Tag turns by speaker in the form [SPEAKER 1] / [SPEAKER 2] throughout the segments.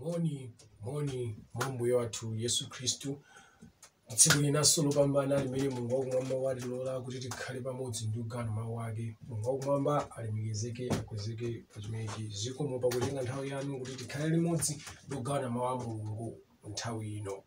[SPEAKER 1] Moni, moni mwa Mbuye wathu Yesu Khristu. Tsiku linanso lopambana limene Mulungu wakumwamba watilola kuti tikhale pamodzi ndi kugawana mawu ake. Mulungu wakumwamba alemekezeke, akwezeke pa chimenechi. Zikomo pakutenga nthawi yanu kuti tikhale limodzi ndi kugawana mawu a Mulungu nthawi ino.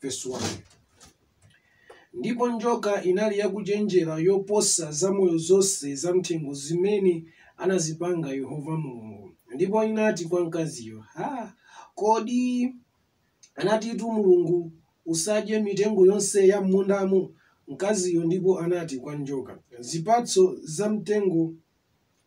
[SPEAKER 1] Verse 1. ndipo njoka inali yakuchenjera yoposa zamoyo zonse zamthengo zimene anazipanga yehova mulungu ndipo inati kwa mkaziyo ha kodi anatitu mulungu usadye mitengo yonse ya m'mundamo mkaziyo ndipo anati kwa njoka zipatso za mtengo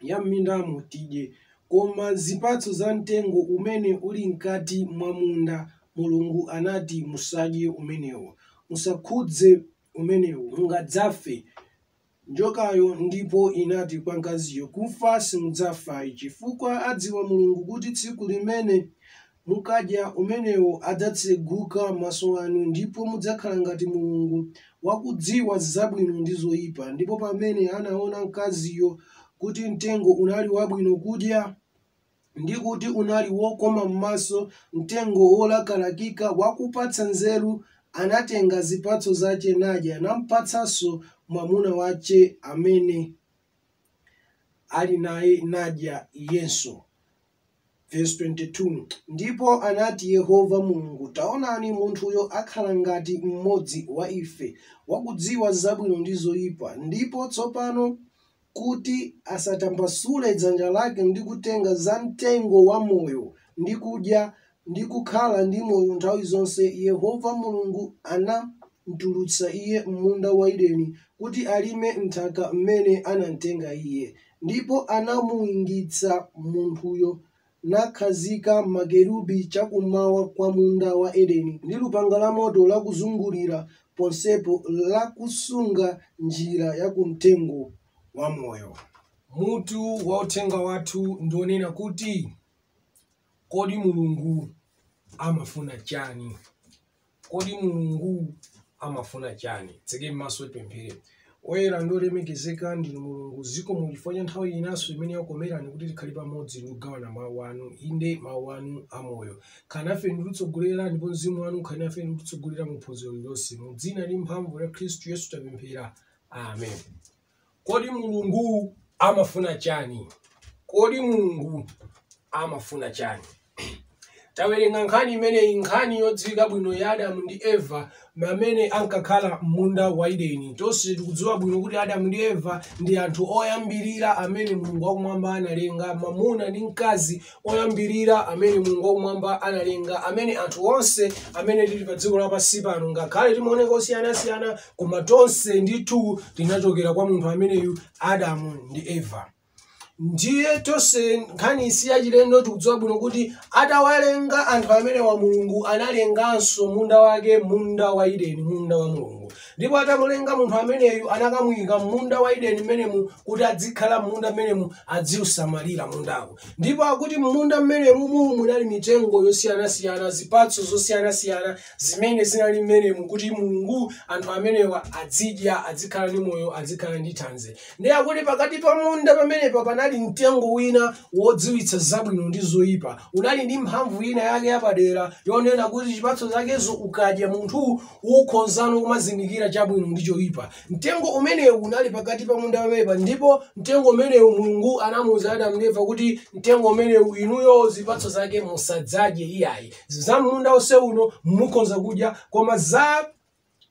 [SPEAKER 1] ya m'mindamo tidye, koma zipatso za mtengo umene uli mkati mwa munda, Mulungu anati, Musadye umenewo. Musakhudze umenewo. Mungadzafe. Njokayo ndipo inati kwa mkaziyo, Kufa simudzafa ayi, chifukwa adziwa Mulungu kuti tsiku limene Mukadya umenewo adzatseguka maso anu ndipo mudzakhala ngati Mulungu, wakudziwa zabwino ndi zoipa. Ndipo pamene anaona mkaziyo kuti mtengo unali wabwino kudya, ndi kuti unali wokoma m'maso, mtengo wolakalakika wakupatsa nzeru, anatenga zipatso zache nadya, nampatsanso mwamuna wache amene ali naye, nadya iyenso. Vesi 22, Ndipo anati Yehova Mulungu, Taonani, munthuyo akhala ngati mmodzi wa ife, wakudziwa zabwino ndi zoipa, ndipo tsopano kuti asatambasule dzanja lake ndi kutenga za mtengo wa moyo, ndi kudya, ndi kukhala ndi moyo nthawi zonse, Yehova Mulungu anam'tulutsa iye m'munda wa Edeni kuti alime m'nthaka mmene anam'tenga iye. Ndipo anamuingitsa munthuyo nakhazika makerubi chakummawa kwa munda wa Edeni, ndi lupanga lamoto lakuzungulira ponsepo lakusunga njira ya ku mtengo wa moyo. Mutu wa uthenga wathu ndi wonena kuti. Kodi Mulungu amafuna chani? Kodi Mulungu amafuna chani? Tseke maso tipemphere. Oyera ndi olemekezeka ndinu Mulungu, zikomo chifukwa cha nthawi yinanso imene yakomerani kuti tikhale pamodzi ndi kugawana mawu anu, inde mawu anu amoyo. Khalani nafe ndi kutitsogolera ndipo mzimu wanu ukhale nafe ndi kutitsogolera mu phunziro lililonse. Mu dzina ndi mphamvu ya Khristu Yesu tapemphera. Amen. Kodi Mulungu Amafuna Chani? Kodi Mulungu Amafuna Chani? Tawerenga nkhani imeneyi, nkhani yodziwika bwino ya Adamu ndi Eva amene ankakhala m'munda wa Edeni. Tonse tikudziwa bwino kuti Adamu ndi Eva ndi anthu oyambirira amene Mulungu wakumwamba analenga, mwamuna ndi mkazi oyambirira amene Mulungu wakumwamba analenga, amene anthu onse amene tili pa dziko lapansi pano, ngakhale timaoneka osiyanasiyana, koma tonse ndithu tinachokera kwa munthu ameneyu Adamu ndi Eva. Ndiye tonse nkhani si yachilendo tikudziwa bwino kuti atawalenga anthu amenewa Mulungu analenganso munda wake, munda wa Edeni, munda wa Mulungu. Ndipo atamulenga munthu ameneyu anakamuyika m'munda wa Edeni mmenemu kuti adzikhala m'munda mmenemu adziusamalira mundawo. Ndipo akuti m'munda mmenemu munali mitengo yosiyanasiyana, zipatso zosiyanasiyana zimene zinali mmenemu kuti Mulungu, anthu amenewa adzidya, adzikhala ndi moyo, adzikhala ndi thanzi. Ndiye akuti pakati pa munda pamenepa panali mtengo wina wodziwitsa zabwino ndi zoyipa. Unali ndi mphamvu ina yake yapadera yonena kuti chipatso chakezo ukadya munthu ukhozano kumazindikira chabwino ndi choyipa. Mtengo umenewu unali pakati pa munda pamenepa ndipo mtengo umenewu Mulungu anamuwuza Adamu ndi Eva kuti mtengo umenewu inuyo zipatso zake musadzadye iyayi. Za munda onse uno mukhoza kudya koma za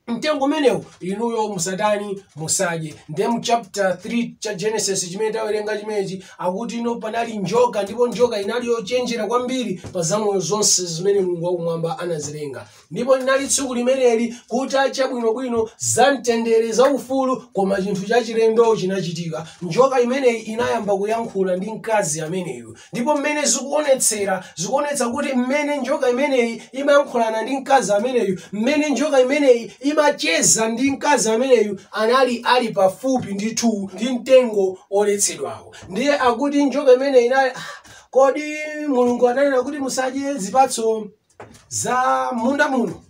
[SPEAKER 1] mtengo umenewu inuyo musatani musadye ndiye mu chapter 3 cha genesis chimene tawerenga chimenechi akuti ino panali njoka ndipo njoka inali yochenjera kwambiri pa zamoyo zonse zimene mulungu wakumwamba anazilenga ndipo linali tsiku limeneli kutacha bwinobwino za mtendere za ufulu koma chinthu chachilendo chinachitika njoka imeneyi inayamba kuyankhula ndi mkazi ameneyu ndipo mmene zikuonetsera zikuonetsa kuti mmene njoka imeneyi imayankhulana ndi mkazi ameneyu mmene njoka imeneyi imacheza ndi mkazi ameneyu anali ali pafupi ndithu ndi mtengo woletsedwawo ndiye akuti njoka imeneyi inali kodi mulungu ananena kuti musadye zipatso za munda muno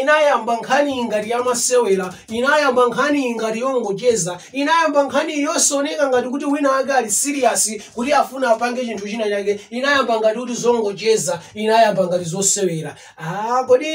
[SPEAKER 1] inayamba nkhani ngati yamasewera inayamba nkhani ngati yongocheza inayamba nkhani yosaoneka ngati kuti wina wake ali serious kuti afuna apange chinthu china chake inayamba ngati kuti zongocheza inayamba ngati zosewera ah, kodi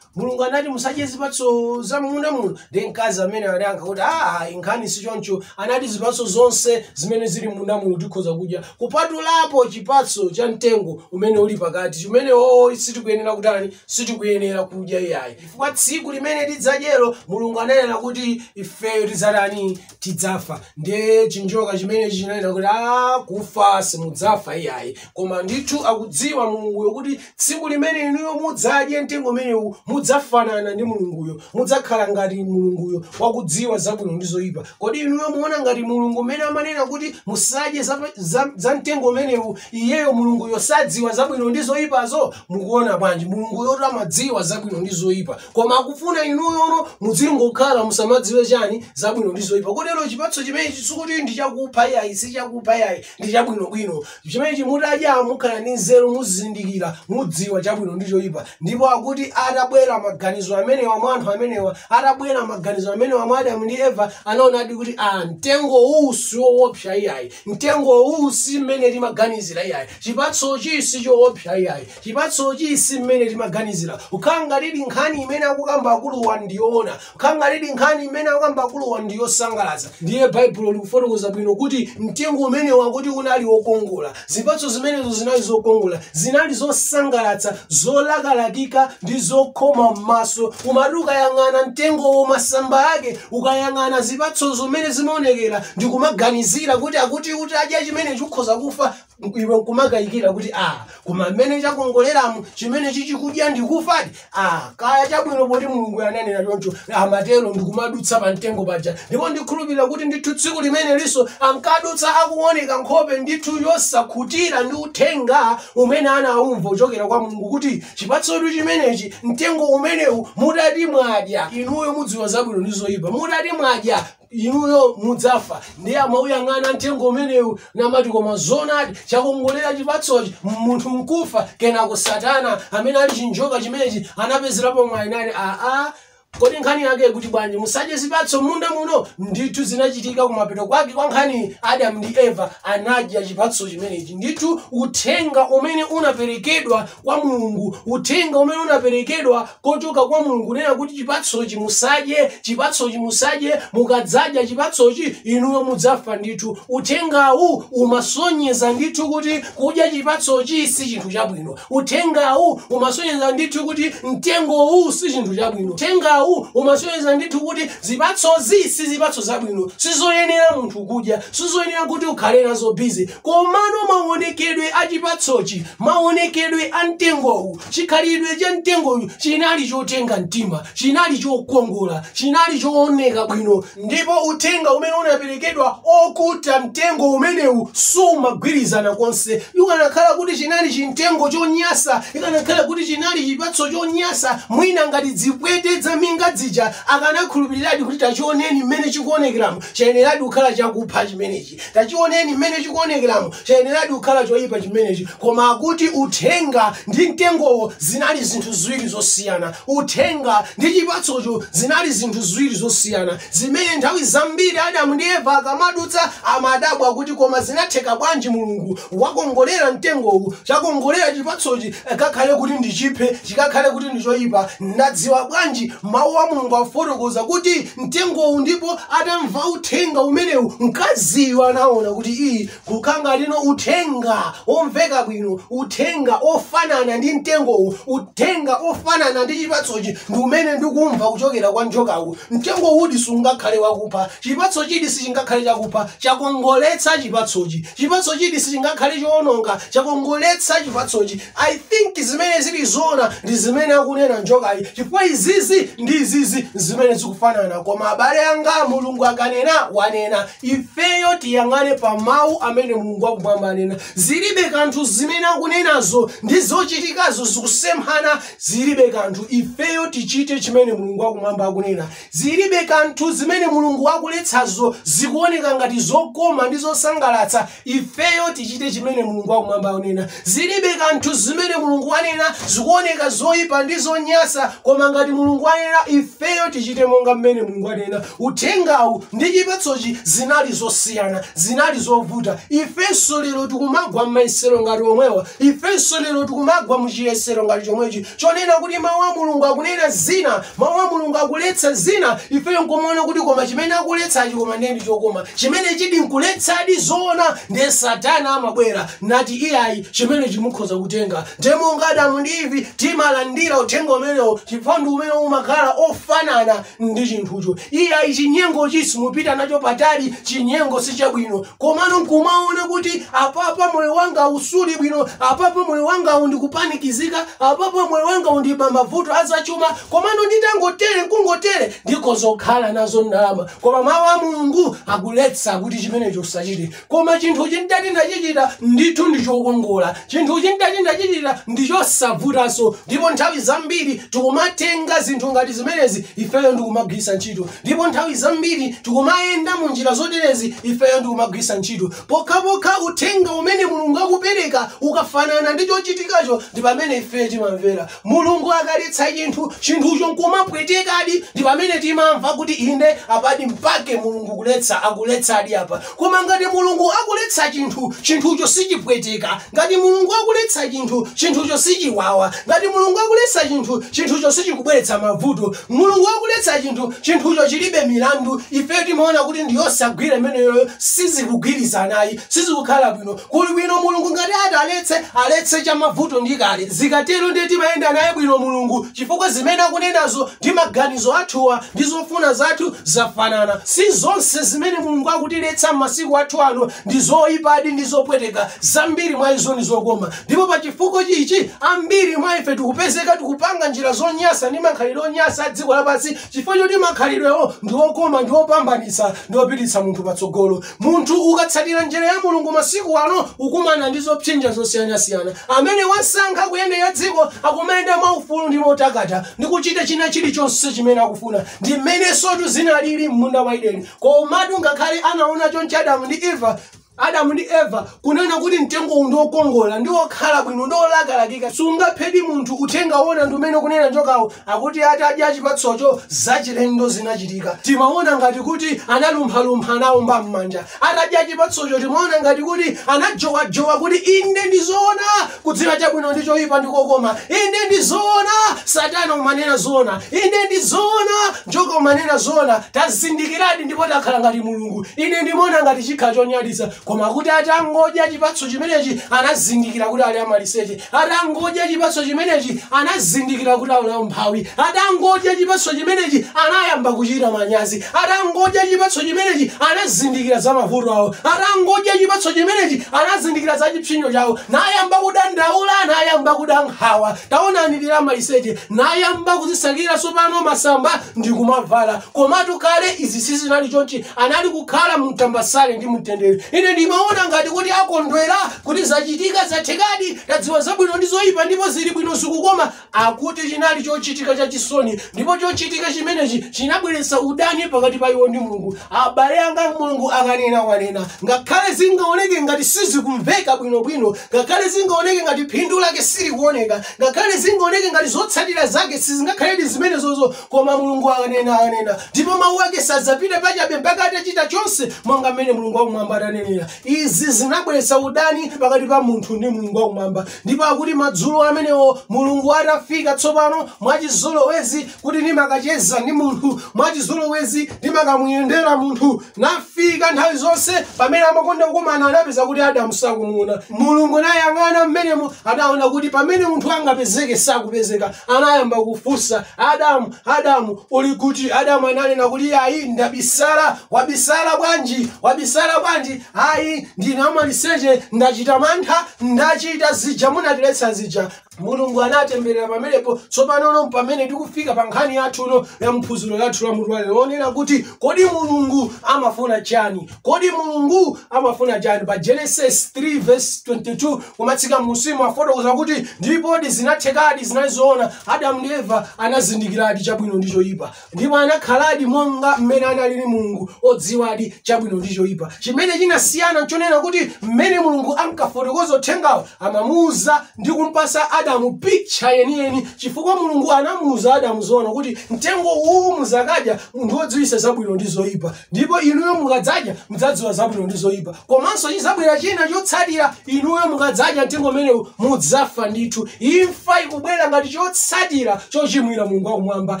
[SPEAKER 1] mulungu anati musadye zipatso za munda muno ndiye mkazi ameneyu anayankha kuti aa nkhani si choncho anati zipatso zonse zimene zili munda muno tikhoza kudya kupatulapo chipatso cha mtengo umene uli pakati umenewo sitikuyenera kutani sitikuyenera kudya iyayi chifukwa tsiku limene tidzadyero mulungu ananena kuti ifeyo tidzatani tidzafa ndiye chinjoka chimenechi chinanena kuti aa kufa simudzafa iyayi koma ndithu akudziwa mulunguyo kuti Tsiku limene inuyo mudzadye mtengo umenewu, mudzafanana ndi Mulunguyo. Mudzakhala ngati Mulunguyo, wakudziwa zabwino ndi zoipa. Kodi inuyo muona ngati Mulungu mmene amanena kuti musadye za, za, za mtengo umenewu? Iyeyo Mulunguyo sadziwa zabwino ndi zoipazo? Mukuona bwanji? Mulunguyotu amadziwa zabwino ndi zoipa. Koma akufuna inuyono mudzingokhala musamadziwe chani zabwino ndi zoipa. Kotero chipatso chimenechi sikuti ndi chakupha yayi, si chakupha yayi, ndi chabwinobwino. Chimenechi mutadya mukhala ndi nzeru, muzindikira, mudziwa chabwino ndi choipa. Ndipo akuti atabwera maganizo amenewa mwa anthu amenewa, atabwera maganizo amenewa mwa Adamu ndi Eva, anaonadi kuti aa mtengo uwu si woopsa iyayi, mtengo uwu si mmene timaganizira iyayi, chipatsochi si choopsa iyayi, chipatsochi si mmene timaganizira. Kukhala ngatidi nkhani imene akukamba akuluwa ndi yoona, Kukhala ngatidi nkhani imene akukamba akuluwa ndi yosangalatsa. Ndiye Baibulo likufotokoza bwino kuti mtengo umenewu akuti unali wokongola. Zipatso zimenezo zinali zokongola, zinali zosangalatsa, zolakalakika ndi zokoma m'maso. Umati ukayang'ana mtengowo masamba ake, ukayang'ana zipatsozo mmene zimaonekera ndi kumaganizira kuti akuti utadya chimenechi ukhoza kufa, iwe nkumakayikira kuti a koma mmene chakongoleramu chimenechi chikudya n'kufadi a kaya chabwino poti mulungu ananena choncho amatero ndikumadutsa pa mtengo paja ndipo ndikhulupirira kuti ndithu tsiku limenelinso ankadutsa akuoneka nkhope ndithu yosakhutira ndi uthenga umene anaumva kuchokera kwa mulungu kuti chipatsotu chimenechi mtengo umenewu mutati mwadya inuyo mudziwa zabwino ndi zoyipa mutati mwadya inuyo mudzafa ndiye amauyang'ana mtengo umenewu namati koma zonadi chakongolera chipatsochi munthu n'kufa kenako satana amene ali chinjoka chimenechi anapezerapo mwayi nati aa kodi nkhani yake kuti bwanji musadye zipatso m'munda muno ndithu zinachitika kumapeto kwake kwa nkhani adamu ndi eva anadya chipatso chimenechi ndithu uthenga umene unaperekedwa kwa mulungu uthenga umene unaperekedwa kuchoka kwa Mulungu, kunena kuti chipatsochi musadye, chipatsochi musadye, mukadzadya chipatsochi inuyo mudzafa ndithu. Uthengawu umasonyeza ndithu kuti kudya chipatsochi si chinthu chabwino. Uthengawu umasonyeza ndithu kuti mtengowu si chinthu chabwino. Uthengawu umasonyeza ndithu kuti zipatsozi si zipatso zabwino, sizoyenera munthu kudya, sizoyenera kuti ukhale nazo busy. Komano maonekedwe a chipatsochi, maonekedwe a mtengowu Chikhalidwe cha mtengowu chinali chotenga mtima, chinali chokongola, chinali chooneka bwino, ndipo uthenga umene unaperekedwa wokhudza mtengo umenewu sumagwirizana konse. Kukanakhala kuti chinali chimtengo chonyansa, ikanakhala kuti chinali chipatso chonyansa, mwina ngati zipwete zaminga zija akanakhulupiriradi kuti tachioneni mmene chikuonekeramu, chayeneradi kukhala chakupha chimenechi. Tachiwoneni mmene chikuwonekeramu. Chayeneradi kukhala choyipa chimenechi. Koma akuti Uthenga ndi mtengowo zinali zinthu ziwiri zosiyana. Uthenga ndi chipatsocho zinali zinthu ziwiri zosiyana zimene nthawi zambiri Adamu ndi Eva akamadutsa amadabwa kuti koma zinatheka bwanji Mulungu wakongolera mtengowu, chakongolera chipatsochi, kakhale kuti n'chiphe, chikakhale kuti ndichoyipa? Ndadziwa bwanji? Mawu a Mulungu akufotokoza kuti. mtengowu ndipo atamva uthenga umenewu mkaziyu anaona kuti iyayi uku kungali uthenga omveka bwino uthenga ofanana ndi mtengowu uthenga ofanana ndi chipatsochi ndi umene ndikumva kuchokera kwa njokawu mtengo uwudi sungakhale wakupha chipatsochidi sichingakhale chakupha chakongoletsa chipatsochi chipatsochidi sichingakhale choononga chakongoletsa chipatsochi I think zimene zili zoona ndi zimene akunena njokayi chifukwa izizi ndi izizi zimene zikufanana koma abale anga mulungu akanena wanena ifeyo tiyang'ane pa mawu amene mulungu wakumwamba anena zilibe kanthu zimene akunenazo ndi zochitikazo zikusemphana zilibe kanthu ifeyo tichite chimene mulungu wakumwamba akunena Ziribe kanthu zimene Mulungu wakuletsazo zikuwoneka ngati zokoma ndi zosangalatsa, ifeyo tichite chimene Mulungu wa Kumwamba akunena. Ziribe kanthu zimene Mulungu wanena zikuwoneka zoipa ndi zonyansa, koma ngati Mulungu wanena, ifeyo tichite monga mmene Mulungu wanena. Uthengawu ndi chipatsochi zinali zosiyana. Zinali zovuta. Ifenso lero tikumagwa m'mayesero ngati omwewa. Ifenso lero tikumagwa mu chiyesero ngati chomwechi, chonena kuti Mawu a Mulungu akunena zina Mawu a Mulungu akuletsa zina, ifeyo nkumaona kuti koma chimene akuletsachi koma ndiye ndi chokoma. Chimenechidi nkuletsadi zoona ndiye Satana amabwera nati iyayi chimenechi mukhoza kutenga. Ndiye monga Adamu ndi Ivi timalandira uthenga umenewo chifukwa ndi umene umakhala ofanana ndi chinthucho. Iyayi chinyengochi simupita nacho patali, chinyengo si chabwino. komano nkumaona kuti apapa moyo wanga wu suli bwino apapa moyo wanga wu ndikupanikizika apapa moyo wanga wu ndi pa mavuto azachuma komano nditangotere nkungotere ndikhoza kukhala nazo ndalama koma mawu a mulungu akuletsa kuti chimenecho usachite koma chinthuchi nditati ndachichita ndithu ndichokongola chinthuchi nditati ndachichita ndichosavutanso ndipo nthawi zambiri tikumatenga zinthu ngati zimenezi ifeyo ndikumagwiritsa ntchito Ndipo nthawi zambiri tikumayenda mu njira zoterezi ifeyo ndi kumagwiritsa ntchito pokhapokha uthenga umene Mulungu akupereka ukafanana ndi chochitikacho ndi pamene ifeyo timamvera. Mulungu akaletsa chinthu, chinthucho nkumapwetekadi ndi pamene timamva kuti inde apadi mpake Mulungu kuletsa, akuletsadi apa. Koma ngati Mulungu akuletsa chinthu, chinthucho sichipweteka. Ngati Mulungu akuletsa chinthu, chinthucho sichiwawa. Ngati Mulungu akuletsa chinthu, chinthucho sichikubweretsa mavuto. Mulungu akuletsa chinthu, chinthucho chilibe milandu. Ifeyo timaona kuti ndi yosagwira imeneyoyo, sizikugwirizana ayi, sizikukhala bwino. Kuli bwino Mulungu ngati ati aletse, aletse chamavuto ndikale. Zikatero ndiye timayenda naye bwino Mulungu. Chifukwa zimene akunenazo ndi maganizo athuwa ndi zofuna zathu zafanana. Si zonse zimene Mulungu akutiletsa m'masiku athu ano ndi zoipadi ndi zopweteka, zambiri mwa izo ndi zokoma. Ndipo pa chifukwa ichi, ambiri mwa ife tikupezeka tikupanga njira zonyansa ndi makhalidwe onyansa a dziko lapansi chifukwa choti makhalidwewo ndi okoma ndi opambanitsa ndi opititsa munthu patsogolo munthu ukatsatira njira ya mulungu masiku ano ukumana ndi zopsinja zosiyanasiyana amene wasankha kuyendera dziko akumayenda mwaufulu ndi motakata ndi kuchita china chilichonse chimene akufuna ndi mmenensotu zinalili m'munda wa ideni komatu ngakhale anaona chonchi adamu ndi eva adamu ndi eva kunena kuti mtengowu ndi wokongola ndi wokhala bwino ndi wolakalakika sungaphedi munthu uthenga wona ndi umene kunena njokawo akuti atadya chipatsocho zachilendo zinachitika timaona ngati kuti analumphalumpha anaomba m'manja atadya chipatsocho timaona ngati kuti anajowajowa kuti inde ndi zoona kudziwa chabwino ndi choyipa ndi kokoma inde ndi zoona satana umanena zoona inde ndi zoona Njoka umanena zoona tazindikiradi ndipo takhala ngati Mulungu. Ine ndimaona ngati chikhala chonyaditsa koma kuti atangodya chipatso chimenechi anazindikira kuti ali amaliseche. Atangodya chipatso chimenechi anazindikira kuti ali amphawi. Atangodya chipatso chimenechi anayamba kuchita manyazi. Atangodya chipatso chimenechi anazindikira za mavuto awo. Atangodya chipatso chimenechi anazindikira za chipsinjo chawo. Nayamba kudandaula, nayamba kuda nkhawa. taonani tili amaliseche nayamba kudzisakira tsopano masamba ndi kumavala komatu kale izi sizinali chonchi anali kukhala mumtambasale ndi mumtendere ine ndimaona ngati kuti akondwera kuti zachitika zathekadi tadziwa zabwino ndi zoyipa ndipo zili bwino zikukoma koma akuti chinali chochitika chachisoni ndipo chochitika chimenechi chinabweretsa udani pakati pa iwo ndi mulungu abale anga mulungu akanena wanena ngakhale zingaoneke ngati sizikumveka bwinobwino Ngakhale zingaoneke ngati phindu lake silikuoneka, ngakhale zingaoneke ngati zotsatira zake sizingakhaledi zimenezozo, koma Mulungu akanena, wanena, ndipo mawu ake sadzapita pachabe mpaka atachita chonse monga mmene Mulungu wakumwamba ananenera. Izi zinabweretsa udani pakati pa munthu ndi Mulungu wakumwamba. Ndipo akuti madzulo amenewo Mulungu atafika tsopano, mwachizolowezi, kuti ndikacheze ndi munthu mwachizolowezi ndikamuyendere munthu nafika nthawi zonse pamene amakonda kukumana anapeza kuti adamu sakumuona mulungu nayang'ana mmenemo adaona kuti pamene munthu angapezeke sakupezeka anayamba kufunsa adamu adamu uli kuti adamu ananena kuti ayi ndabisala wabisala bwanji wabisala bwanji ayi ndine wamaliseche ndachita mantha ndachita zija munatiletsa zija mulungu anatemberera pamenepo tsopanono pamene tikufika pa nkhani yathuno ya phunziro lathu la mutu walero wonena kuti kodi mulungu amafuna chani kodi mulungu amafuna chani pa genesis 3 verse 22 kumatsika m'munsimu afotokoza kuti ndipodi zinathekadi zinali zoona adamu ndi eva anazindikiradi chabwino ndi choyipa ndipo anakhaladi monga mmene analili mulungu odziwadi chabwino ndi choyipa chimene chinasiyana nchonena kuti mmene mulungu ankafotokoza uthengawo amamuuza ndi kumpasa adamu picha yeniyeni chifukwa mulungu anamuuza adamu zoona kuti mtengo uwu mudzakadya, mtengo odziwisa zabwino ndi zoyipa Ndipo inuyo mukadzadya, mudzadziwa zabwino ndi zoyipa. Komanso chidzabwera china chotsatira, inuyo mukadzadya mtengo umenewu mudzafa ndithu. Imfa ikubwera ngati chotsatira chochimwira Mulungu wakumwamba.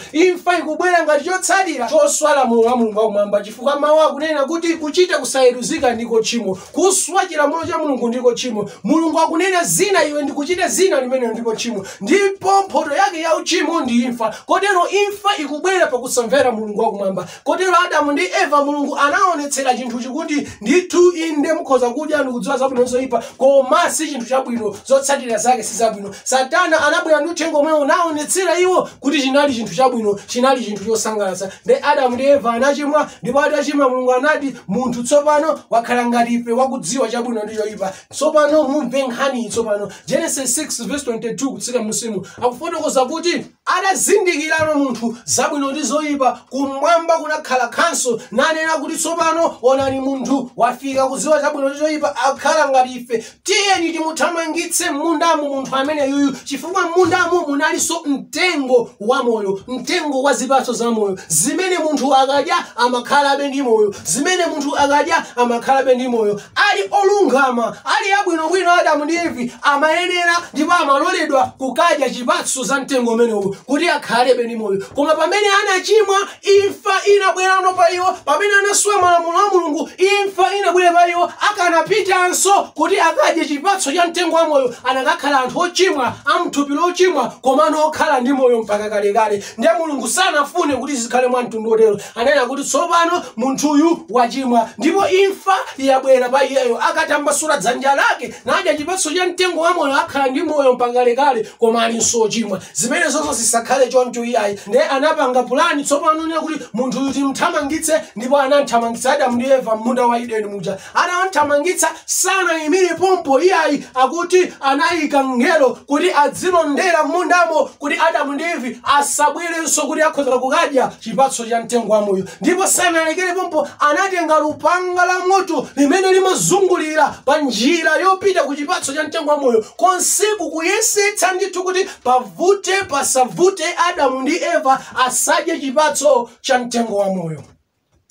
[SPEAKER 1] Imfa ikubwera ngati chotsatira choswa lamulo la Mulungu wakumwamba, chifukwa mawu akunena kuti kuchita kusayeruzika ndiko tchimo. Kuswa chilamulo cha Mulungu ndiko tchimo. Mulungu akunena zina iwe ndi kuchita zina, limenelo ndilo tchimo. Ndipo mphoto yake ya uchimo ndi imfa. Kotero imfa ikubwera pakusamvera Mulungu wakumwamba. Kotero Adamu ndi Eva Mulungu anaonetsera chinthuchi kuti ndithu inde mukhoza kudya ndikudziwa zabwino ndi zoyipa koma si chinthu chabwino zotsatira zake si zabwino. Satana anabwera ndi uthenga omwe unaonetsera iwo kuti chinali chinthu chabwino chinali chinthu chosangalatsa. Nde Adamu ndi Eva anachimwa ndipo atachimwa Mulungu anati munthu tsopano wakhala ngati ife wakudziwa chabwino ndi choyipa. Tsopano mumve nkhaniyi tsopano Genesis 3 verse 22 kutsika mmunsimu akufotokoza kuti Atazindikirano munthu zabwino ndi zoipa, kumwamba kunakhala khanso, nanena kuti, Tsopano onani munthu wafika kudziwa chabwino ndi choipa, wakhala ngati ife, tiyeni timuthamangitse m'mundamu munthu ameneyuyu, chifukwa m'mundamu munalinso mtengo wa moyo, mtengo wa zipatso za moyo, zimene munthu akadya amakhalabe ndi moyo, zimene munthu akadya amakhalabe ndi moyo. ali olungama ali abwinobwino adamu ndi evi amayenera ndipo amaloledwa kukadya zipatso za mtengo umenewu kuti akhalebe ndi moyo koma pamene anachimwa imfa inabwerano pa iwo pamene anaswa malamulo a mulungu imfa inabwera pa iwo akanapitanso kuti akadye chipatso cha mtengo wa moyo anakakhala anthu ochimwa amthupi lochimwa komano okhala ndi moyo mpaka kalekale ndiye mulungu sanafune kuti zikhale mwa mtundu otero Ananena kuti tsopano munthuyu wachimwa ndipo imfa yabwera pa iyeyo. Akatambasula dzanja lake nadya chipatso cha mtengo wa moyo akhala ndi moyo mpaka kalekale, koma alinso wochimwa. Zimenezozo zisakhale choncho iyayi. Ndiye anapanga pulani tsopano yonena kuti munthuyu tim'thamangitse ndipo anam'thamangitsa Adamu ndi Eva m'munda wa Edeni muja. Atawathamangitsa, sanaimire pompo iyayi. Akuti anaika mngelo kuti adzilondera m'mundamo kuti Adamu ndi Eve asabwerenso kuti akhoza kukadya chipatso cha mtengo wa moyo. Ndipo sanalekere pompo, anatenga lupanga la moto limene limazungulira pa njira yopita ku chipatso cha mtengo wa moyo, konseku kuyesetsa ndithu kuti pavute pasavute Adamu ndi Eva asadye chipatso cha mtengo wa moyo.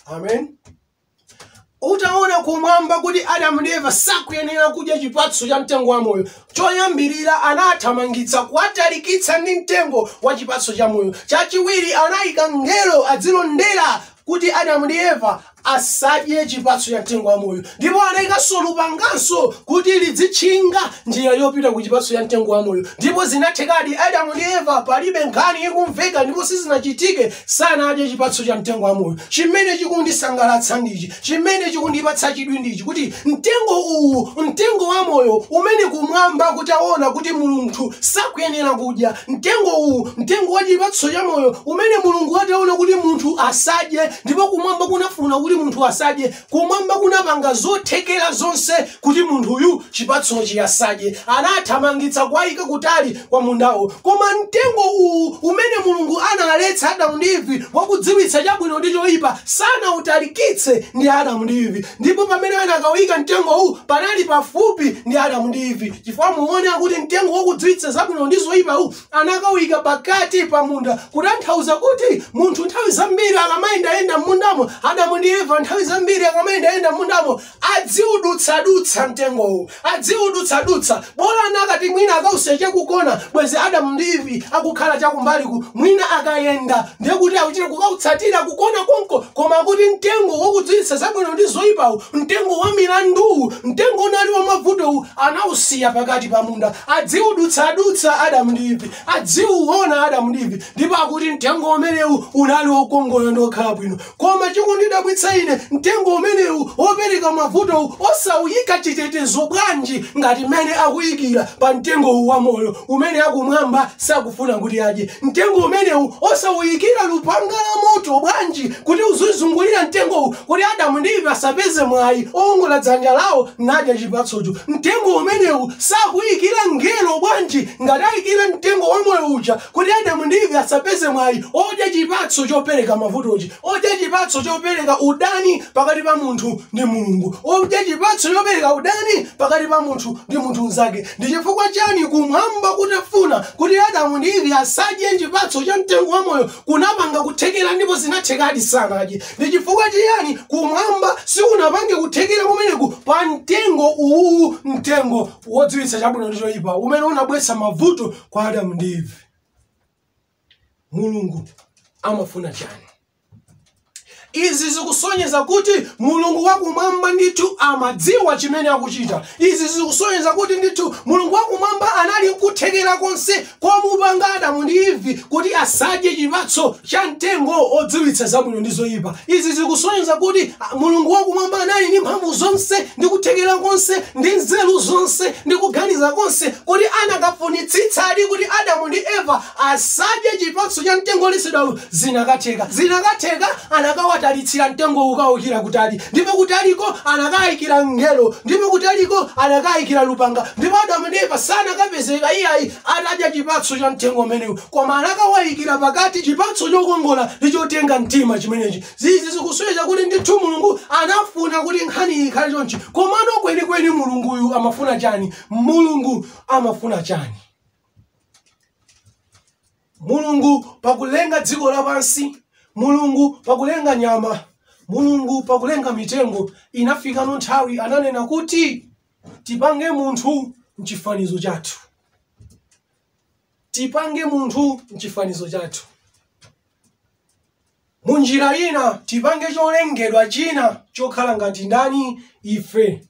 [SPEAKER 1] Amen. Utaona kumwamba kuti Adamu ndi Eva sakuyenera kudya chipatso cha mtengo wa moyo, choyambirira anawathamangitsa, kuwatalikitsa ndi mtengo wa chipatso cha moyo. Chachiwiri, anayika mngelo adzilondera kuti Adamu ndi Eva asadye chipatso cha mtengo wa moyo, ndipo anayikanso lupanganso kuti lidzitchinga njira yopita ku chipatso cha mtengo wa moyo. Ndipo zinathekadi, Adamu ndi Eva palibe nkhani ikumveka ndipo sizinachitike sanadye chipatso cha mtengo wa moyo chimene chikundisangalatsa ndichi chimene chikundipatsa chidwi ndichi kuti mtengo uwu mtengo wa moyo umene kumwamba kutaona kuti mulungu sakuyenera kudya mtengo uwu mtengo wa chipatso cha moyo umene mulungu ataona kuti munthu asadye ndipo kumwamba kunafuna kuti munthu asadye Kumwamba kunapanga zothekera zonse kuti munthuyu chipatsochi asadye. Anathamangitsa kuwaika kutali kwa mundawo. Koma mtengo uwu umene Mulungu analetsa Adamu ndi Eve wakudziwitsa chabwino ndi choipa sanautalikitse ndi Adamu ndi Eve. Ndipo pamene anakauika mtengowu panali pafupi ndi Adamu ndi Eve chifukwa muone akuti mtengo wakudziwitsa zabwino ndi zoipawu anakauika pakati pa munda kutanthauza kuti munthu nthawi zambiri akamayendayenda m'mundamo adamu ndi eva nthawi zambiri akamayendayenda m'mundamo adziudutsadutsa mtengowu adziudutsadutsa bola akanati mwina akausiya chakukona bwezi adamu ndi ivi akukhala chakumbaliku mwina akayenda ndiye kuti akuchita kukautsatira kukona konko koma kuti mtengo wakudziwitsa zabwino ndi zoyipawu mtengo wa milanduwu mtengo unali wamavutowu anausiya pakati pa munda Adziwudutsadutsa Adamu ndi Ivi, adziwuwona Adamu ndi Ivi, ndipo akuti, Mtengo umenewu unali wokongola ndi wokhala bwino. Koma chikundidabwitsa ine, mtengo umenewu, wopereka mavutowu, osawuyika chitetezo bwanji ngati mmene akuyikira pa Mtengo uwu wa Moyo, umene Akumwamba sakufuna kuti adye? Mtengo umenewu osawuyikira Lupanga la Moto bwanji, kuti lizizungulira mtengowu, kuti Adamu ndi Eve asapeze mwayi owongola dzanja lawo nadya chipatsocho. Mtengo umenewu osawuyikira Mngelo bwanji? Ngati ayikira Mtengo wa Moyo uja kuti Adamu ndi Eve asapeze mwayi odya chipatso chopereka mavutochi, odya chipatso chopereka udani pakati pa munthu ndi Mulungu, odya chipatso chopereka udani pakati pa munthu ndi munthu mzake, ndi chifukwa chani Kumwamba kutafuna kuti Adamu ndi Eve asadye chipatso cha Mtengo wa Moyo kunapanga kuthekera ndipo zinathekadi sanadye. Ndi chifukwa chiyani kumwamba sikunapange kuthekera kumeneku pa mtengo uwuwu mtengo wodziwitsa chabwino ndi choyipa umene unabweretsa mavuto kwa adamu ndi eve mulungu amafuna chani Izi zikusonyeza kuti Mulungu Wakumwamba ndithu amadziwa chimene akuchita. Izi zikusonyeza kuti ndithu Mulungu Wakumwamba anali n'kuthekera konse komupanga Adamu ndi Eve kuti asadye chipatso cha mtengo odziwitsa zabwino ndi zoipa. Izi zikusonyeza kuti Mulungu Wakumwamba anali ndi mphamvu zonse ndi kuthekera konse ndi nzeru zonse ndi kuganiza konse kuti anakafunitsitsadi kuti Adamu ndi Eva asadye chipatso cha mtengo woletsedwawu zinakatheka. Zinakatheka anakawatalitsira mtengowu kukawuikira kutali, ndipo kutaliko anakayikira Mngelo, ndipo kutaliko anakayikira Lupanga, ndipo Adamu ndi Eva sanakapezeka iyayi atadya chipatso cha mtengo umenewu, koma anakawayikira pakati chipatso chokongola ndi chotenga mtima chimenechi. Izi zikusonyeza kuti ndithu Mulungu anafuna kuti nkhaniyi ikhale chonchi. Komano kwenikweni Mulunguyu amafuna chani? Mulungu amafuna chani? mulungu pakulenga dziko lapansi mulungu pakulenga nyama mulungu pakulenga mitengo inafikano nthawi ananena kuti tipange munthu mchifanizo chathu tipange munthu mchifanizo chathu munjira ina tipange cholengedwa china chokhala ngati ndani ife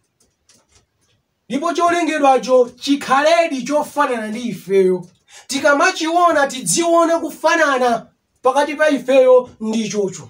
[SPEAKER 1] ndipo cholengedwacho chikhaledi chofanana ndi ifeyo. Tikamachiona tidziona kufanana pakati pa ifeyo ndi ichocho.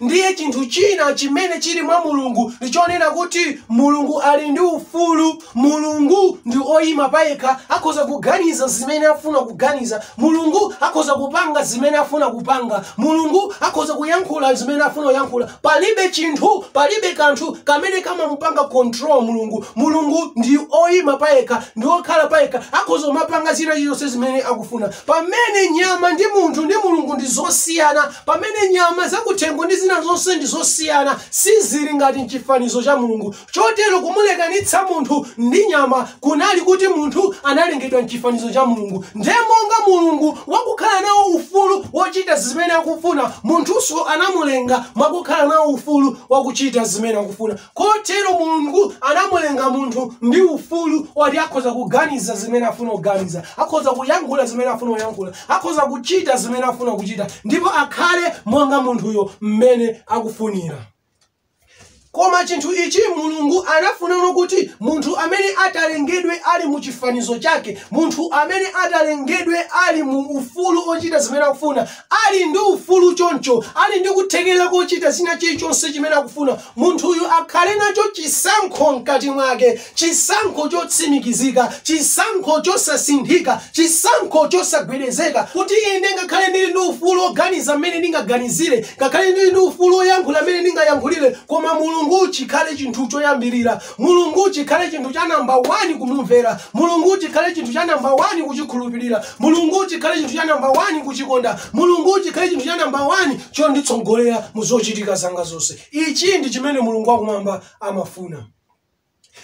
[SPEAKER 1] Ndiye chinthu china chimene chili mwa Mulungu ndi chonena kuti Mulungu ali ndi ufulu. Mulungu ndi oyima payekha, akhoza kuganiza zimene afuna kuganiza. Mulungu akhoza kupanga zimene afuna kupanga. Mulungu akhoza kuyankhula zimene afuna kuyankhula. Palibe chinthu, palibe kanthu, kamene kamamupanga control Mulungu. Mulungu ndi oyima payekha, ndi wokhala payekha, akhoza kumapanga china chilichonse zimene akufuna. Pamene nyama ndi munthu ndi Mulungu ndi zosiyana, pamene nyama zakuthengo ndi zina zonse ndi zosiyana, sizili ngati m'chifanizo cha Mulungu. Chotero kumulekanitsa munthu ndi nyama kunali kuti munthu analengedwa m'chifanizo cha Mulungu, ndiye monga Mulungu wakukhala nawo ufulu wochita zimene akufuna, munthunso anamulenga mwakukhala nawo ufulu wakuchita zimene akufuna. Kotero Mulungu anamulenga munthu ndi ufulu oti akhoza kuganiza zimene afuna kuganiza, akhoza kuyankhula zimene afuna kuyankhula, akhoza kuchita zimene afuna kuchita, ndipo akhale monga munthuyo m'mene akufunira. Koma chinthu ichi Mulungu anafunano kuti munthu amene atalengedwe ali mu chifanizo chake, munthu amene atalengedwe ali mu ufulu ochita zimene akufuna, ali ndi ufulu choncho, ali ndi kuthekera kochita china chilichonse chimene akufuna, munthuyu akhale nacho chisankho mkati mwake Chisankho chotsimikizika, chisankho chosasinthika, chisankho chosagwedezeka, kuti ine ngakhale ndiri ndi ufulu woganiza mmene ndingaganizire, ngakhale ndiri ndi ufulu woyankhula mmene ndingayankhulire, koma Mulungu chikhale chinthu choyambirira, Mulungu chikhale chinthu cha namba wani kumumvera, Mulungu chikhale chinthu cha namba wani kuchikhulupirira, Mulungu chikhale chinthu cha namba wani kuchikonda, Mulungu chikhale chinthu cha namba wani chonditsogolera mu zochitika zanga zonse. Ichi ndi chimene Mulungu wa Kumwamba amafuna.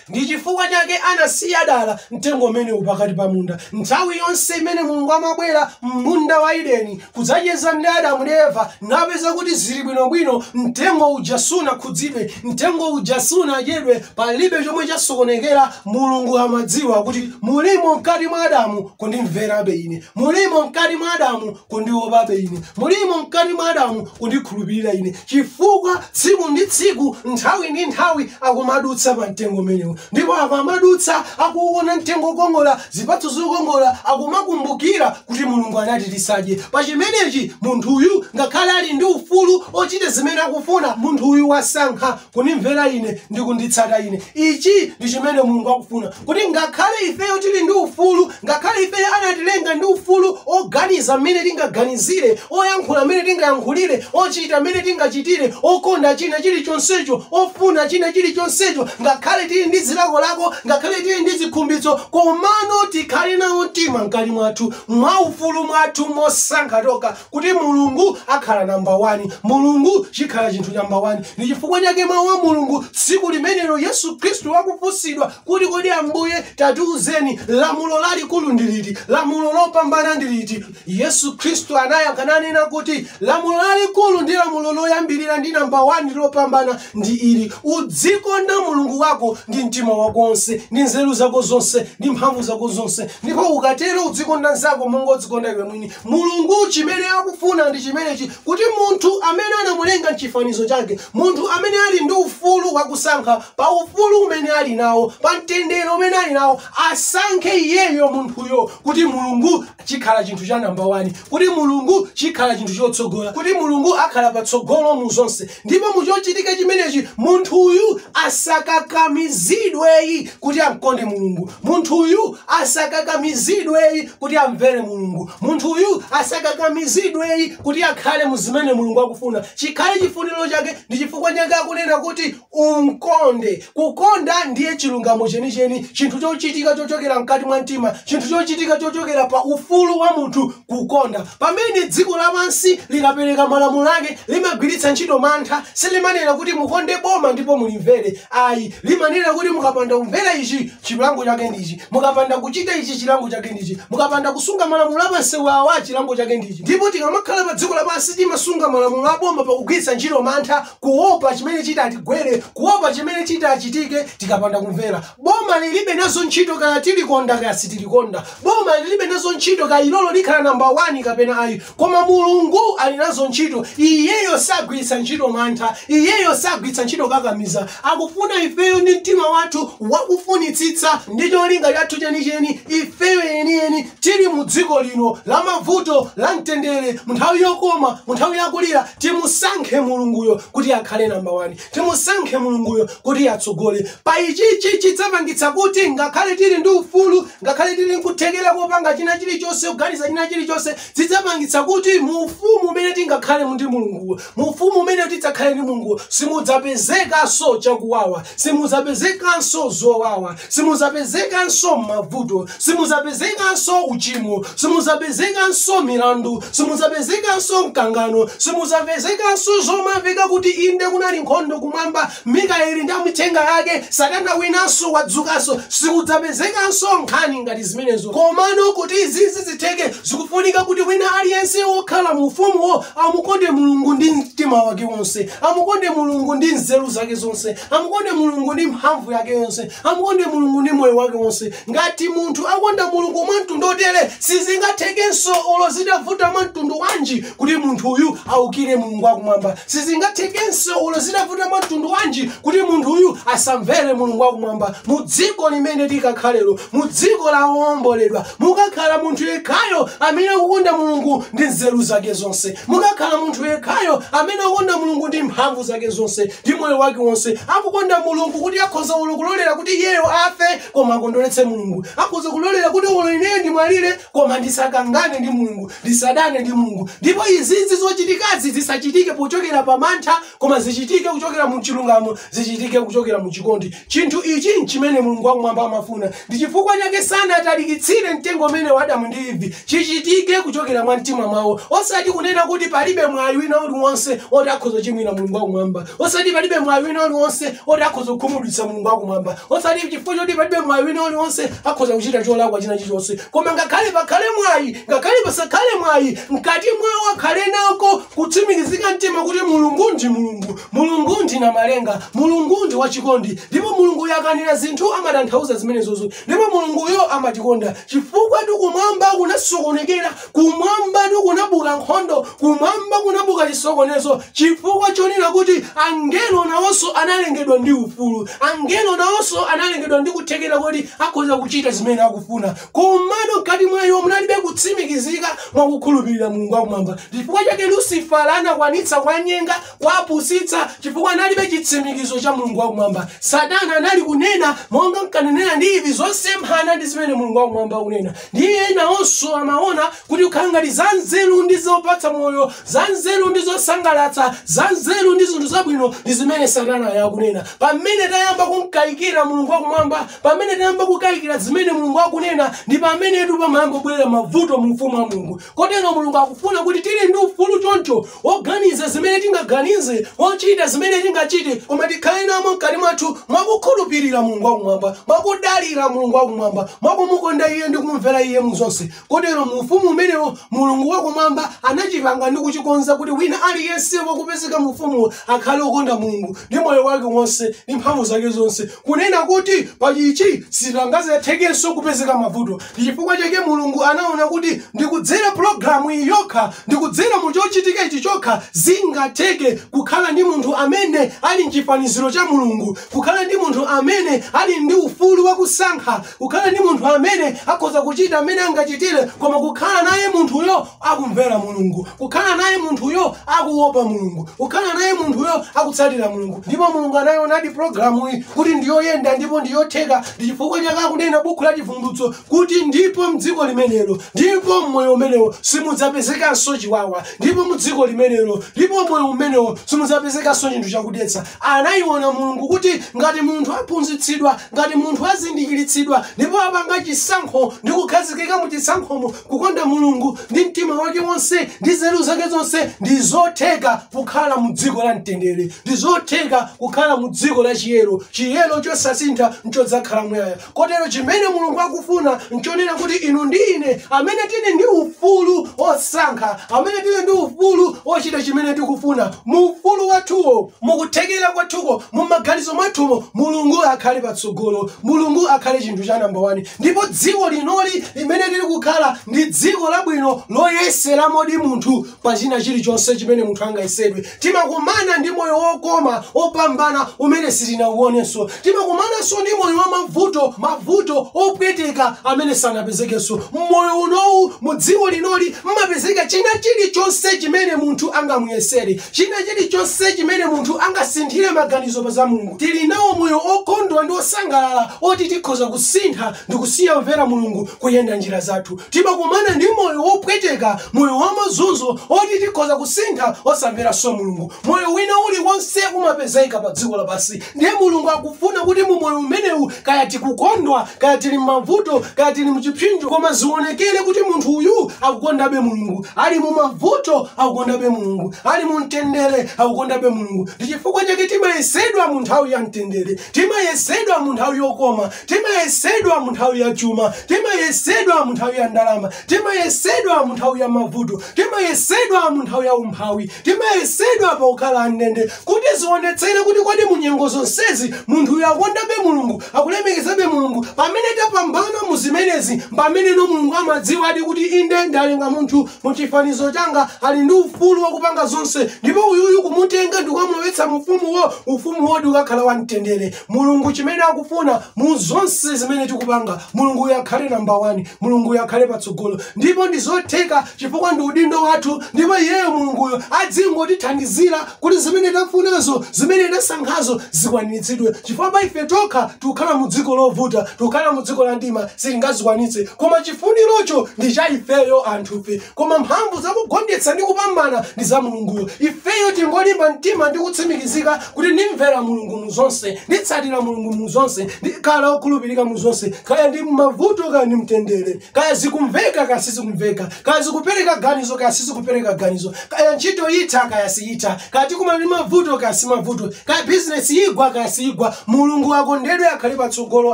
[SPEAKER 1] Ndi chifukwa chake anasiya dala mtengo umenewu pakati pa munda. Nthawi yonse imene Mulungu amabwera mmunda wa Edeni kudzacheza ndi Adamu ndi Eva, napeza kuti ziri bwino bwino, mtengo uja sunakhudzidwe, mtengo uja sunadyedwe, palibe chomwe chasokonekera, Mulungu amadziwa kuti mulimo mkati mwa Adamu kundimverabe ine. Mulimo mkati mwa Adamu kundiopabe ine mulimo mkati mwa adamu kundikhulupirira ine chifukwa tsiku ndi tsiku nthawi ndi nthawi akumadutsa pa mtengo umenewu ndipo akamadutsa akuuona mtengo wokongola zipatso zokongola akumakumbukira kuti mulungu anati tisadye pa chimenechi munthuyu ngakhale ali ndi ufulu ochita zimene akufuna munthuyu wasankha kundimvera ine ndi kunditsata ine ichi ndi chimene mulungu akufuna kuti ngakhale ifeyo tili ndi ufulu ngakhale ifeyo anatilenga ndi ufulu oganiza mmene tingaganizire oyankhula mmene tingayankhulire ochita mmene tingachitire okonda china chilichonsecho ofuna china chilichonsecho ngakhale tili ndi zilakolako ngakhale tili ndi zikhumbitso komano tikhale nawo mtima mkati mwathu mwaufulu mwathu mosankha tokha kuti Mulungu akhale namba wani, Mulungu chikhale chinthu cha namba wani. Ndi chifukwa chake Mawu a Mulungu, tsiku limenelo Yesu Khristu akufunsidwa kuti, Kodi Ambuye, tatiuzeni, lamulo lalikulu ndi liti? Lamulo lopambana ndi liti? Yesu Khristu anayankha nanena kuti, Lamulo lalikulu ndi lamulo loyambirira ndi namba wani ndi lopambana ndi ili, Udzikonda Mulungu wako ndi mtima wako wonse, ndi nzeru zako zonse, ndi mphamvu zako zonse, ndipo ukatero udzikonda mnzako monga udzikonda iwe mwini. Mulungu, chimene akufuna ndi chimenechi, kuti munthu amene anamulenga m'chifanizo chake, munthu amene ali ndi ufulu wa kusankha, pa ufulu umene ali nawo, pa mtendere umene ali nawo, asankhe iyeyo munthuyo kuti Mulungu chikhale chinthu cha namba wani, kuti Mulungu chikhale chinthu chotsogola, kuti Mulungu akhale patsogolo mu zonse. Ndipo mu chochitika chimenechi, munthu uyu asakakamizidwe ayi, kuti amkonde Mulungu. Munthu uyu asakakamizidwe ayi, kuti amvere Mulungu. Munthu uyu asakakamizidwe ayi, kuti akhale mu zimene Mulungu akufuna. Chikhale chifuniro chake. Ndi chifukwa chake akunena kuti, Umkonde. Kukonda ndiye chilungamo chenicheni, chinthu chochitika chochokera mkati mwa mtima, chinthu chochitika chochokera pa ufulu wa munthu kukonda. Pamene dziko lapansi likapereka malamulo ake, limagwiritsa ntchito mantha. Silimanena kuti, Mukonde boma ndipo mulimvere. Ayi, limanena kuti, Mukapanda kumvera ichi, chilango chake ndi ichi. Mukapanda kuchita ichi, chilango chake ndi ichi. Mukapanda kusunga malamulo a pamsewu awa, chilango chake ndi ichi. Ndipo tikamakhala padziko lapansi, timasunga malamulo a boma pakugwiritsa ntchito mantha. kuopa chimene chitatigwere kuopa chimene chitachitike tikapanda kumvera boma lilibe nazo ntchito kaya tilikonda kaya sitilikonda boma lilibe nazo ntchito kaya ilolo likhala namba 1 kapena ayi koma mulungu ali nazo ntchito iyeyo sagwiritsa ntchito mantha iyeyo sagwiritsa ntchito kukakamiza akufuna ifeyo ndi mtima wathu wakufunitsitsa ndi cholinga chathu chenicheni ifeyo yeniyeni Tili mu dziko lino la mavuto, la mtendere, mu nthawi yokoma, mu nthawi ya kulira, timusankhe Mulunguyo kuti akhale namba wani. Timusankhe Mulunguyo kuti atsogole pa ichichi. Chidzapangitsa kuti ngakhale tili ndi ufulu, ngakhale tili nkuthekera kopanga china chilichonse, kuganiza china chilichonse, zidzapangitsa kuti mu ufumu umene tidzakhalemo ndi Mulunguwo, mu ufumu umene tidzakhale ndi Mulunguwo, simudzapezekanso chakuwawa, simudzapezekanso zowawa. simudzapezekanso mavuto simudzapezekanso uchimo simudzapezekanso milandu simudzapezekanso mkangano simudzapezekanso zomamveka kuti inde kunali nkhondo kumwamba mikaeli ndi amithenga yake satana winanso wadzukanso sikudzapezekanso nkhani ngati zimenezo komano kuti izizi zitheke zikufunika kuti wina aliyense wokhala mu ufumuwo amukonde mulungu ndi mtima wake wonse amukonde mulungu ndi nzeru zake zonse amukonde mulungu ndi mphamvu yake yonse amukonde mulungu ndi moyo wake wonse ngati munthu akonda mulungu mwa mtundu wotere sizingathekenso olo zitavuta mwa mtundu wanji kuti munthu uyu aukire mulungu wakumwamba sizingathekenso olo zitavuta mwa mtundu wanji kuti munthu uyu asamvere mulungu wakumwamba mu dziko limene tikakhalemo mu dziko la owomboledwa mukakhala munthu yekhayo amene akukonda mulungu ndi nzeru zake zonse mukakhala munthu yekhayo amene akukonda mulungu ndi mphamvu zake zonse ndi moyo wake wonse akukonda mulungu kuti akhoza olo kulolera kuti iyeyo afe koma akondweretse mulungu akhoza kulolera kuti olo ineyo ndimwalire koma ndisakangane ndi mulungu ndisadane ndi mulungu ndipo izizi zochitikazi zisachitike pochokera pa mantha koma zichitike kuchokera mu chilungamo zichitike kuchokera mu chikondi Chinthu ichi nchimene Mulungu wa Kumwamba amafuna. Ndi chifukwa chake sanatalikitsire mtengo umenewu kwa Adamu ndi Eve chichitike kuchokera mumtima mwawo, osati kunena kuti palibe mwayi wina uliwonse woti akhoza kuchimwira Mulungu wa Kumwamba, osati palibe mwayi wina uliwonse woti akhoza kukhumudwitsa Mulungu wa Kumwamba, osati chifukwa choti palibe mwayi wina uliwonse akhoza kuchita cholakwa china chilichonse, koma ngakhale pakhale mwayi, ngakhale pasakhale mwayi, mkati mwawo akhale nako kutsimikizika mtima kuti Mulungu ndi Mulungu, mulungu ndi namalenga mulungu ndi wachikondi ndipo mulungu akanena zinthu amatanthauza zimenezozo ndipo mulunguyo amatikonda chifukwa kumwamba kunasokonekera kumwamba kunabuka nkhondo kumwamba kunabuka chisokonezo chifukwa chonena kuti angelo nawonso analengedwa ndi ufulu angelo nawonso analengedwa ndi kuthekera kuti akhoza kuchita zimene akufuna komano mkati mwa iwo munalibe kutsimikizika mwa kukhulupirira mulungu wakumwamba chifukwa chake lusifala anakwanitsa kuwanyenga Kuwapusitsa chifukwa analibe chitsimikizo cha Mulungu wa kumwamba. Satana anali kunena monga mkanenera ndi izi zosemphana ndi zimene Mulungu wa kumwamba akunena. Ndiye nawonso amaona kuti kukhala ngati za nzeru ndi zopatsa moyo, za nzeru ndi zosangalatsa, za nzeru ndi zinthu zabwino ndi zimene Satanayo akunena. Pamene tayamba kumkayikira Mulungu wa kumwamba, pamene tayamba kukayikira zimene Mulungu akunena, ndi pamenetu pamayamba kubwera mavuto mu ufumu wa Mulungu. Kotero Mulungu akufuna kuti tiri ndi ufulu choncho woganiza zimene tingaganize, wochita zimene tingachite, koma tikhale namo mkati mwathu mwa kukhulupirira Mulungu wa Kumwamba, mwa kudalira Mulungu wa Kumwamba, mwa kumukonda Iye ndi kumumvera Iye mu zonse. Kotero mu Ufumu umenewo, Mulungu wa Kumwamba anachipanga ndi kuchikonza kuti wina aliyense wokupezeka mu Ufumuwo akhale wokonda Mulungu ndi moyo wake wonse ndi mphamvu zake zonse, kunena kuti pa ichi sizingadzathekenso kupezeka mavuto. Ndi chifukwa chake Mulungu anaona kuti ndi kudzera pulogalamu iyi yokha, ndi kudzera mu chochitika ichi chokha zingatheke kukhala ndi munthu amene ali m'chifaniziro cha Mulungu, kukhala ndi munthu amene ali ndi ufulu wa kusankha, kukhala ndi munthu amene akhoza kuchita m'mene angachitire koma kukhala naye munthuyo akumvera Mulungu, kukhala naye munthuyo akuopa Mulungu, kukhala naye munthuyo akutsatira Mulungu. Ndipo Mulungu anayionadi programuyi kuti ndiyoyenda ndipo ndiyotheka, ndi chifukwa chake akunena bukhu la Chivumbulutso kuti ndipo mdziko limenelo, ndipo mmoyo umenewo simudzapezekanso chiwawa, ndipo mudziko limenelo, ndipo mmoyo umenewo simudzapezekanso chinthu chakudetsa. Anayiona Mulungu kuti ngati munthu aphunzitsidwa, ngati munthu azindikiritsidwa, ndipo apanga chisankho ndi kukhazikika mu chisankhomo, Kukonda Mulungu ndi mtima wake wonse ndi nzeru zake zonse ndi zotheka kukhala mu dziko la mtendere, ndi zotheka kukhala mu dziko la chiyero, chiyero chosasintha nchodzakhala muyaya. Kotero chimene Mulungu akufuna nchonena kuti inu ndi ine amene tili ndi ufulu wosankha, amene tili ndi ufulu wochita chimene tikufuna, mu ufulu wathuwo, mu kuthekera kwathuko, mu maganizo mwathumo, Mulungu akhale patsogolo, Mulungu akhale chinthu cha namba wani. Ndipo dziko linoli limene tili kukhalali ndi dziko labwino loyeseramodi munthu pa china chilichonse chimene munthu angayesedwe. Timakumana ndi moyo wokoma, wopambana umene sitinauonenso. Timakumananso ndi moyo wa mavuto, mavuto opweteka amene sanapezekenso. M'moyo unowu, mu dziko linoli m'mapezeka china chilichonse chimene munthu angamuyesere. China chili chonse chimene munthu angasinthire maganizo pa za Mulungu, tili nawo moyo okondwa ndi osangalala oti tikhoza kusintha ndikusiya kumvera Mulungu kuyenda njira zathu. Timakumana ndi moyo wopweteka, moyo wa mazunzo oti tikhoza kusintha osamveranso Mulungu. Moyo wina uli wonse umapezeka pa dziko lapansi. Ndiye Mulungu akufuna kuti mu moyo umenewu, kaya tikukondwa, kaya tili m'mavuto, kaya tili mu chipsinjo, koma zionekere kuti munthu uyu akukondabe Mulungu. Ali mu mavuto, akukondabe Mulungu. Ali mu mtendere, akukondabe Mulungu. Ndi chifukwa chake timayesedwa mu nthawi ya mtendere, timayesedwa mu nthawi yokoma, timayesedwa mu nthawi ya chuma, timayesedwa mu nthawi ya ndalama, timayesedwa mu nthawi ya mavuto, timayesedwa mu nthawi ya umphawi, timayesedwa pa kukhala andende, Kuti zionetsere kuti kodi mu nyengo zonsezi munthuyu akukondabe Mulungu, akulemekezabe Mulungu, pamene tapambana mu zimenezi mpameneno Mulungu amadziwadi kuti inde ndalenga munthu mu chifanizo changa ali ndi ufulu wakupanga zonse ndipo uyuyu kumutenga ndikukamulowetsa mu ufumuwo ufumuwodi ukakhala wa mtendere Mulungu chimene akufuna mu zonse zimene tikupanga Mulunguyo akhale number one Mulunguyo akhale patsogolo ndipo ndizotheka chifukwa ndi udindo wathu ndipo iyeyo Mulunguyo adzingotithandizira kuti zimene tafunazo, zimene tasankhazo zikwaniritsidwe chifukwa pa ife tokha tikukhala mu dziko lovuta, tikukhala mu dziko la mdima sitingazikwanitse koma chifunirocho ndi cha ifeyo anthufe koma mphamvu za kugonjetsa ndi kupambana ndi za Mulunguyo. Ifeyo tingolimba mtima ndi kutsimikizika kuti ndimvera Mulungu mu zonse, nditsatira Mulungu mu zonse, ndikhala wokhulupirika mu zonse kaya ndi m'mavuto kaya ndi mtendere. kaya zikumveka kaya sizikumveka kaya zikupereka ganizo kaya sizikupereka ganizo kaya ntchito yitha kaya siyitha kaya tikumana ndi mavuto kaya simavuto kaya bizinesi yigwa kaya siyigwa mulungu akondedwe akhale patsogolo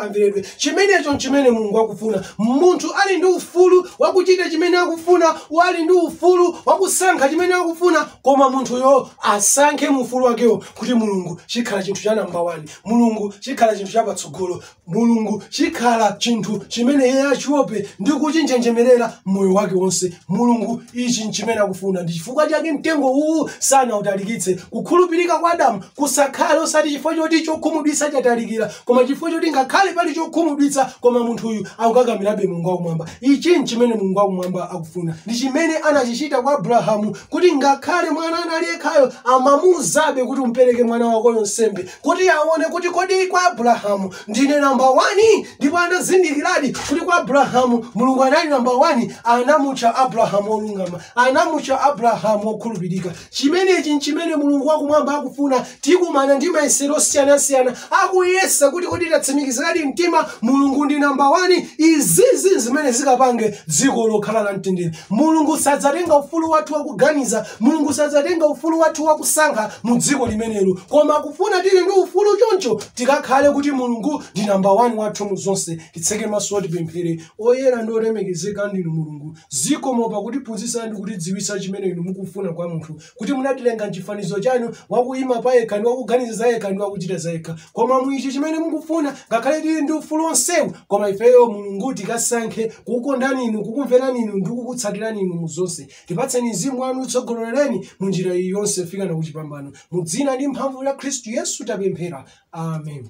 [SPEAKER 1] amveredwe chimenecho nchimene mulungu akufuna munthu ali ndi ufulu wakuchita chimene akufuna wali ndi ufulu wakusankha chimene akufuna koma munthuyo asankhe mu ufulu wakewo kuti mulungu chikhala chinthu cha namba 1 mulungu chikhala chinthu cha patsogolo Mulungu chikhala chinthu chimene iye achiope ndi kuchinjenjemerera moyo wake wonse. Mulungu, ichi nchimene akufuna. Ndi chifukwa chake mtengo uwu sanautalikitse. Kukhulupirika kwa Adamu kusakhale osati chifukwa choti chokhumudwitsa chatalikira, koma chifukwa choti ngakhale pali chokhumudwitsa, koma munthuyu akukakamirabe Mulungu Wakumwamba. Ichi nchimene Mulungu Wakumwamba akufuna. Ndi chimene anachichita kwa Abrahamu, kuti ngakhale mwana anali yekhayo, amamuuzabe kuti umpereke mwana wakoyo nsembe. kuti aone kuti kodi kwa Abrahamu ndine namba wani, ndipo anazindikiradi kuti kwa Abrahamu Mulungu anali namba wani, anamutcha Abrahamu wolungama, anamutcha Abrahamu wokhulupirika. Chimenechi nchimene Mulungu wakumwamba akufuna. Tikumana ndi mayesero osiyanasiyana, akuyesa kuti kodi tatsimikiziradi mtima Mulungu ndi namba wani. Izizi zimene zikapange dziko lokhala la mtendere. Mulungu sadzatenga ufulu wathu wakuganiza mulungu sadzatenga ufulu wathu wakusankha mu dziko limenelo koma akufuna tili ndi ufulu choncho tikakhale kuti mulungu ndi namba 1 wathu mu zonse titseke maso tipemphere oyera ndi olemekezeka ndinu mulungu zikomo pakutiphunzitsa ndi kutidziwitsa chimene inu mukufuna kwa munthu kuti munatilenga mchifanizo chanu wakuyima pa yekha ndi wakuganiza za yekha ndi wakuchita za yekha koma muichi chimene mukufuna ngakhale tili ndi ufulu onsewu koma ifeyo mulungu tikasankhe kukukondani inu kukumverani inu ndi kukutsatirani inu mu zonse Tipatseni Mzimu wanu mutitsogolere munjira iyi yonse kufikana kuchipambano. Mudzina ndi mphamvu ya Kristu Yesu tapemphera. Amen.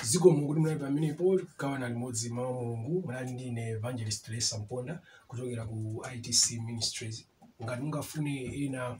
[SPEAKER 1] zikomo mulungu kuti munali pamenepo kugawana limodzi mawu a mulungu munali ndi ine evangelist lesa mponda kuchokera ku itc ministries ngati mungafune ena